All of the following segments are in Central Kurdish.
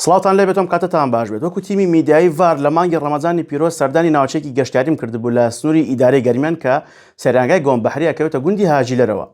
سڵاوتان لێبێت ئەم کاتەتان باش بێت وەکو تیمی میدیایی ڤار لە مانگی ڕەمەزانی پیرۆز سەردانی ناوچەیەکی گەشتیاریم کردبوو لە سنووری ئیدارەی گەرمیان کە سەیرانگای گۆم بەحری ئەکەوێتە گوندی هاجیلەرەوە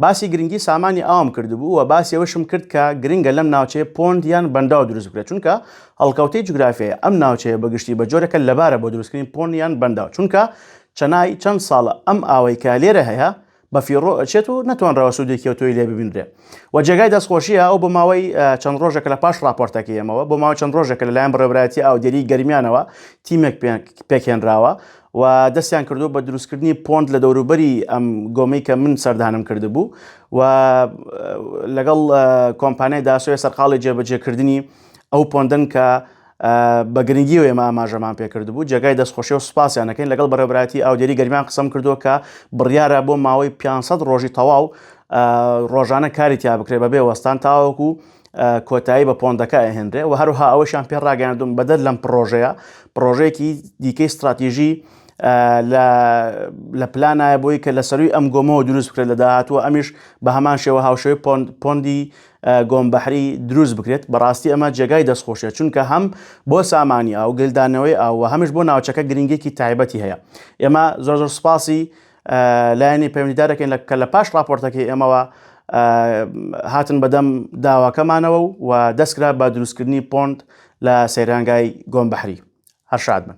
باسی گرنگی سامانی ئاوم کردبوو و باسی ئەوەشم کرد کە گرنگە لەم ناوچەیە پۆند یان بەنداو دروست بکرێت چونکە هەڵکەوتەی جوگرافیای ئەم ناوچەیە بەگشتی بە جۆرێکە لەبارە بۆ دروستکردنی پۆند یان بەنداو چونکە چەنای چەند ساڵە ئەم ئاوەی کە لێرە هەیە بە فیڕۆ ئەچێت و نەتوانراوە سوودێکی و تۆی لێ ببینرێ و جێگای دەستخۆشیە ئەو بۆ ماوەی چەند ڕۆژێکە لە پاش راپۆرتەکە ئەمەوە بۆ ماوە چەند ڕۆژێکە لەلایەن بڕێبراتی ئاودێری گەرمیانەوە تیمێک پێکێنراوە و دەستیان کردو بە دروستکردنی پۆنت لە دەوروبەری ئەم گۆمی کە من سەردانم کردبوو و لەگەڵ کۆمپانیای داسۆی سەرقاڵی جێبەجێکردنی ئەو پۆندن کە بە گرنگیەوە ئێمە ئاماژەمان پێکردبوو جێگای دەستخۆشی و سپاسیان دەکەین لەگەڵ بەڕێبراتی ئاودێری گەرمیان قسەم کردو کە بڕیارە بۆ ماوەی 500 ڕۆژی تەواو ڕۆژانە کاری تیا بکرێ بە بێ وەستان تاوەکو کۆتایی بە پۆندەکە ئەهێنرێ و هەروها ئەوەشان پێ ڕاگەاندون بەدەر لەم پرۆژەیە پرۆژەیەکی دیکەی استراتیژی لە پلانایە بۆی کە لە سەروی ئەم گۆمەوە دروست بکرێت لە داهاتوە ئەمیش بە هەمان شێوە هاوشێوەی پۆندی گۆم بەحری دروست بکرێت بەڕاستی ئەمە جێگای دەستخۆشە چونکە هەم بۆ سامانی ئاو گلدانەوەی ئاو هەمش بۆ ناوچەکە گرنگێکی تایبەتی هەیە ئێمە زۆر زۆر سپاسی لایەنی پەیوەندیدارەکەین لە کە لە پاش راپۆرتەکەی ئێمەوە هاتن بەدەم داواکەمانەوە و دەستکرا بە دروستکردنی پۆند لە سەیرانگای گۆم بەحری هەر شاد بن